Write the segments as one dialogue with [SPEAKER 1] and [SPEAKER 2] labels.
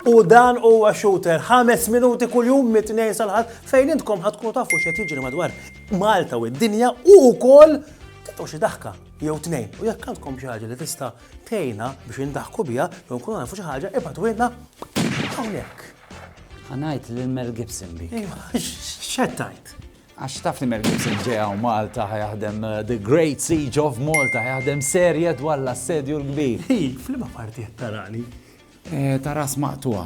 [SPEAKER 1] U dan huwa shooter ħames minuti kuljum mit-tnejn sal-ħadd fejn intkom ħadd tkunu tafu x'qed jiġri madwar Malta u d-dinja u wkoll titgħu xi daħka jew tnejn. U jekk għandkom xi ħaġa li tista' Tgħinna biex indaħku biha jew nkunu nafu xi ħaġa ibgħatulna hawnhekk. Ħanajt lil Mel Gibson bi. X'qed tgħid? Għax taf li Mel Gibson ġeja u Malta ħajaħdem uh, The Great Siege of Malta ħajaħdem serje dwar l-assedju l-kbir. Hi, flima parti qed tarani. ta' ras maqtugħa.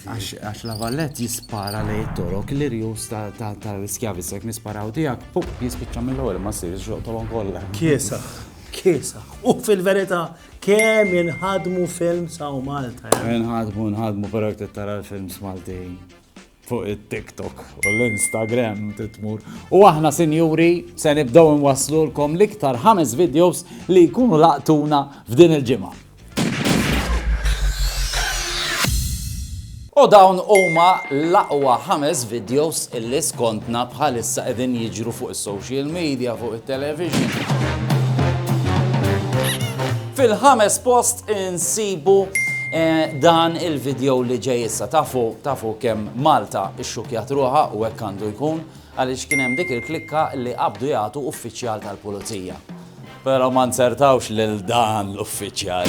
[SPEAKER 1] Għax La Valette jispara lejn it-Torok, l-irjus tal-iskjavi, se jekk nisparaw tiegħek, pup, jispiċċa mill-ewwel imma ssir iżżoqq togħhom kollha. Kiesaħ, kiesaħ. U fil-verità, kemm inħadmu films hawn Malta! Inħadmu, inħadmu, però jekk trid tara l-films Maltin. fuq it-TikTok u l-Instagram trid tmur. U aħna sinjuri se nibdew inwasslulkom l-iktar ħames videos li jkunu laqtuna f'din il-ġimgħa. U dawn huma l-aqwa ħames videos illi skontna bħalissa qegħdin jiġru fuq social media, fuq it-television. Fil-ħames post insibu dan il-video li ġej issa. Tafu, tafu kemm Malta xxukkjat ruħha u hekk għandu jkun għaliex kien hemm dik il-klikka li qabdu jagħtu uffiċjal tal-pulizija. Pero ma nzertawx lil dan l-uffiċjal.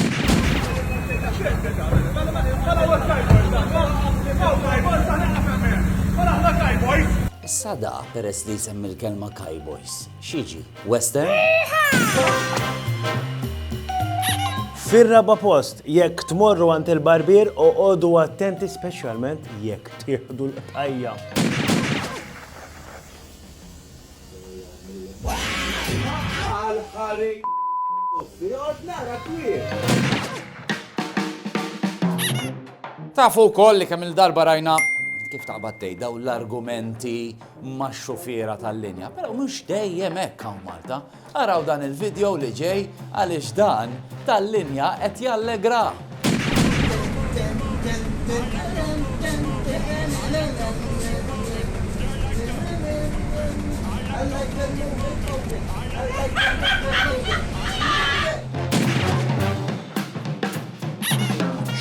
[SPEAKER 1] Issa da peress li jsemmi l-kelma cowboys. Xiġi? Western? Fir-raba post, jekk tmorru għand il-barbier u għodu attenti speċjalment jekk tieħdu l-qtajja. Tafu wkoll li kemm il-darba rajna kif taqbad tgħid dawn l-argumenti max-xufiera tal-linja, però mhux dejjem hekk hawn Malta. Araw dan il-video li ġej għaliex dan tal-linja qed jallegrah!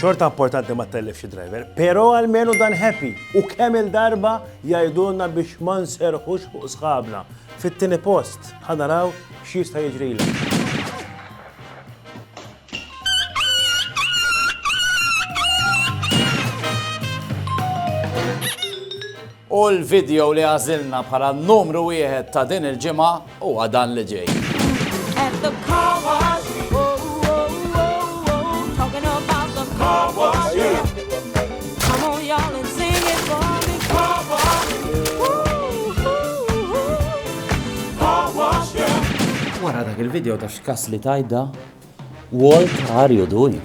[SPEAKER 1] Xorta importanti ma tellifx id-driver, pero għalmenu dan happy u kemm il-darba jgħidulna biex ma nserħux fuq sħabna. Fit-tieni post, ħa naraw x'jista' jiġrilek. U l-video li għażilna bħala numru wieħed ta' din il-ġimgħa huwa dan li ġej. Wara dak il-video ta' x'kas li tajda, Walt are you doing?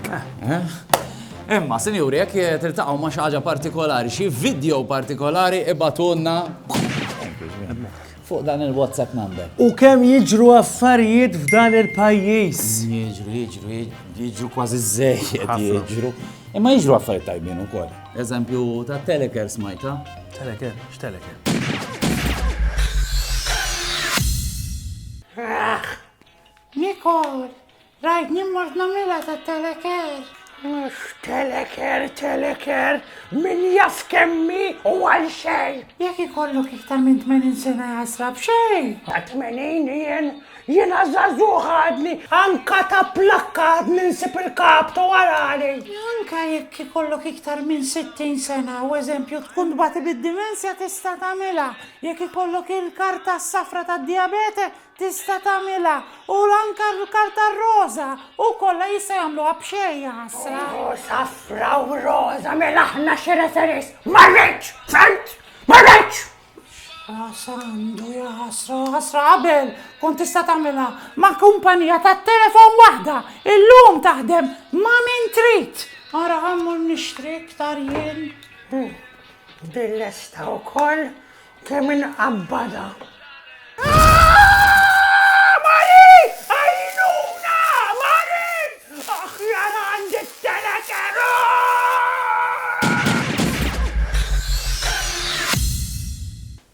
[SPEAKER 1] Imma, sinjuri, jekk tiltaqgħu ma' xi ħaġa partikolari, xi video partikolari ibatunna. Fuq dan il WhatsApp number. U kemm jiġru affarijiet f'dan il-pajjiż. Jiġru, jiġru, jiġru kważi żejjed jiġru. Imma jiġru affarijiet tajbin ukoll. Eżempju ta' teleker smajta. Teleker, x'teleker? Nikol, Rajtni mort nagħmilha ta' teleker. Mhux teleker, teleker, min jaf kemmi u għal xejn. Jekk ikollok iktar minn 80 sena jasra b'xejn. Ta' 80 jien, jiena żagħżugħ għadni, anka ta' plakka għadni nsib il-kap tu arali. Anka jekk ikollok iktar minn 60 sena u eżempju tkun tbati bid-dimensja tista' tagħmilha. Jekk ikollok il-karta s-safra tad-dijabete Tista' tagħmilha, u anke r-karta r-roża, u kollha jistgħu jagħmluha b'xejn, jaħasra. Roża fraw roża, mela aħna xi referis. Ma rridx, fent? Ma rridx! Għasandu, jaħasra, ħasra qabel, kun tista' tagħmilha ma' kumpanija tat-telefon waħda, illum taħdem ma' min trid. Ara ħammur nixtri iktar jien. Billesta wkoll. Kemm inqabbada!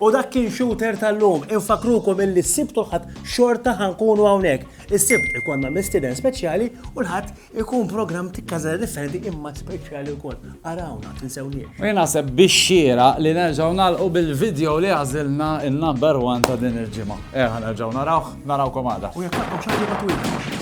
[SPEAKER 1] U dak kien Shooter tal-lum. Infakrukom illi s-Sibt u l-Ħadd xorta ħankunu hawnhekk. Is-Sibt ikollna mistieden speċjali u l-Ħadd Ikun programm ta' każa differenti imma speċjali wkoll. Arawna, tinsewniex. U naħseb biex xira li nerġgħu nagħlqu bil-video li għażilna il-number one ta' din il-ġimgħa. Eħa nerġgħu narawh, narawkom għada. U jekk taqgħu xogħol ma twilx.